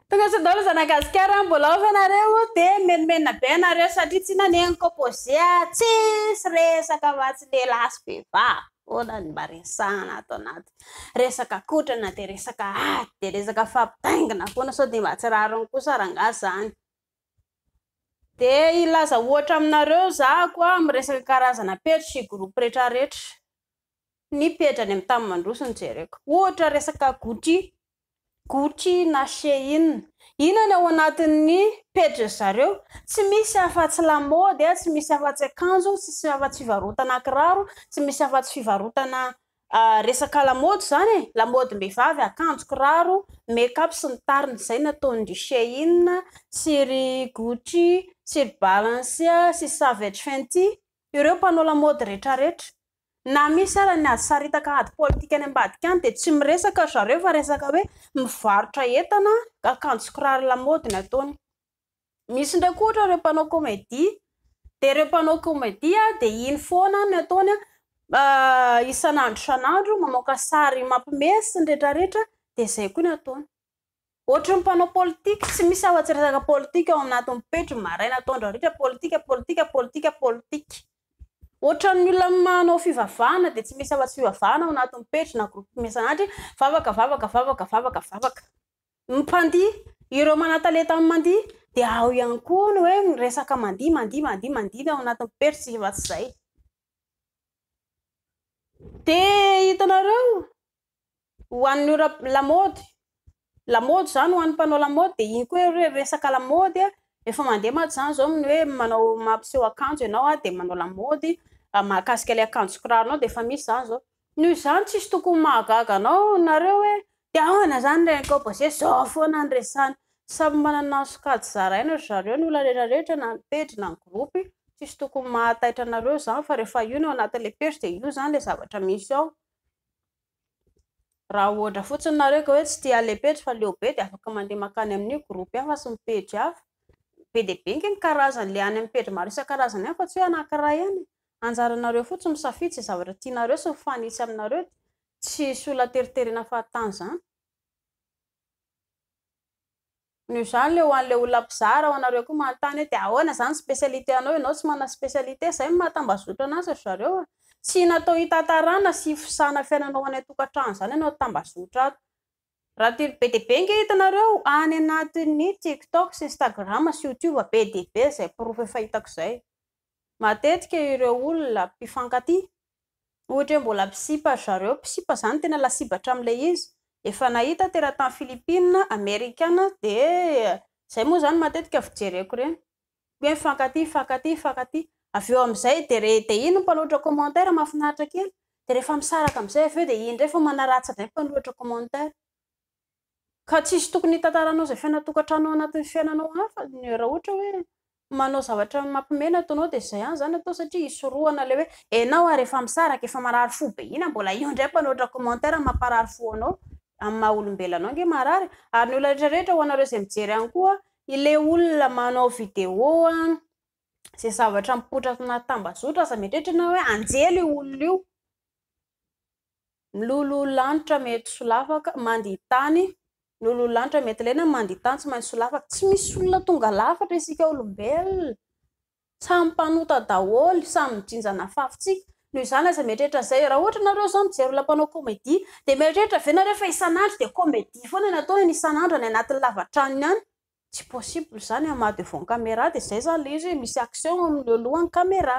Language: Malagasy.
Tonga sindolo zanagasikara mbola ao ianareo dia menomenona be ianareo satria tsy naneniko pose tsisy resaka fa tsy lehilahy sy vehivavy foana ny mba resahana ato anaty resaka kotrana dia resaka ady dia resaka fampitaingina foana sao dia mba tsy rariny kosa rangahy izany Dia hilaza ohatra aminareo zahako a, amin'ny resaka karazana pejy sy groupe retraretra, ny pejy any amin'ny tany mandroso no jereko, ohatra resaka Gucci, Gucci na Shein, inona ny ao anatin'ny pejy zareo, tsy misy afa tsy lamaody a, tsy misy afa tsy akanjo, tsy misy afa tsy fivarotana kiraro, tsy misy afa tsy fivarotana Resaka lamaody izany e! Lamaodim-behivavy, akanjo, kiraro, make up sy ny tariny izay nataon'ny ry Shein sy ry Gucci sy ry Balencia sy Savage Fenty ireo mpanao lamaody rehetrarehetra. Na misy aza ny ady saritaka ady politika any ambadika any dia tsy miresaka ry zareo fa resaka hoe mivarotra entana, akanjo sy kiraro lamaody ny ataony. Misy ndray koa ohatra ireo mpanao comedy de ireo mpanao comedy de iny foana ny ataony isan'andro isan'andro mamoaka sary mampime sy ny retraretra de zay koa ny ataony ohatry ny mpanao politika tsy misy afa tsy resaka politika ao anatin'ny pejiny maraina atoandro hariva politika politika politika politika ohatry ny olona manao fivavahana de tsy misy afa tsy fivavahana ao anatin'ny pejiny na groupe miasa anatry vavaka vavaka vavaka vavaka vavaka Ny mpandihy, ireo manan-talenta amin'ny mandihy dia ao ihany koa ny hoe miresaka mandihy, mandihy, mandihy, mandihy ny ao anatin'ny perche efa tsy izay. Dia hitanareo, ho an'ny ora lamaody, lamaody izany ho an'ny mpanao lamaody dia iny koa hoe resaka lamaody, efa mandeha mantsy izany izao ny hoe manao mampiseho akanjo ianao dia manao lamaody mahakasika ilay akanjo sy kiranao dia efa misy izany izao. Noho izany tsisy tokony mahagaga anao nareo hoe te ahoana izany reny kôa basy hoe zao foana ny resany. Samy manana ny sokajy zaraina ry zareo ny olona rehetra rehetra na ny pejy na ny gropy tsisy tokony mahataitra anareo izany fa rehefa io no ao anatin'ilay pejy dia io izany ilay zavatra misy ao. Raha ohatra fotsiny nareo ka hoe tsy tia an'ilay pejy fa leo be dia afaka mandeha mankany amin'io gropy hafa sy ny pejy hafa. Be dia be ange ny karazan'ilay any amin'ny pejy maro isan-karazany any fa tsy hoe anankiray ihany e. Anjaranareo fotsiny ny misafidy izay zavatra tianareo sy mifanitsy aminareo dia tsy hisy olona hateriterena fahatany izany. Noho izany le ho an'ilay olona mpizara ao anareo koa manontany hoe dia ahoana izany spécialité anao, ianao tsy manana spécialité, izay no mahatambazotra anazy ry zareo a! Tsy natao hitantarana sy hifosahana fiainana ho any an-tokantrano izany ianao tambazotra ato. Raha telo be dia be ange hitanareo any anatin'ny tiktok sy instagram sy youtube be dia be izay porofo efa hitako izay. matetika ireo olona mpifankatia, ohatra hoe mbola mpisipa ry zareo, mpisipa izany tena lasibatra amin'ilay izy, efa nahita teratany Filipina, Amerikana, dia izay moa izany matetika fijereko ireny, hoe mifankatia, mifankatia, mifankatia, avy eo amin'izay dia re, dia iny ny mpanohitra commentaire mahafinaritra kely, dia rehefa misaraka amin'izay avy eo dia iny indray efa manaratsy indray ny mpanohitra commentaire. Ka tsy hisy tokony hitantaranao izay fiainana tokantrano ao anatin'ny fiainanao hafa ny raha ohatra hoe manao zavatra mampime ny ataonao dia izay ihany izany atao satria hisorohana ilay hoe enao ary efa misaraka efa marary fo be ina mbola eo indray mpanoatra commentaire mamparary fo anao amin'ny maha olombelona anao ange marary ary ny olona rehetra rehetra ho anareo izay mijery any koa ilay olona manao vidéo an izay zavatra mipoitra anaty tambazotra aza mieritreritra enao hoe anjely io olona io Miloloha lanitra mety solafaka mandia tany Miloloha lanitra mety lena mandia tany Tsy maintsy solafaka Tsy misy olona tonga lafatra isika olombelona Samy mpanota daholo Samy mijinja an'afafontsika Noho izany aza mieritreritra izay Raha ohatra ianareo izao mijery olona mpanao comedie Dia mieritreritra ve ianareo fa isan'andro dia comedie foana ny ataony isan'andro any anatin'ny lavantranony any Tsy possible izany Ama devant camera dia izay izany ilay izy hoe misy action eo amin'ny eo alohan'ny camera.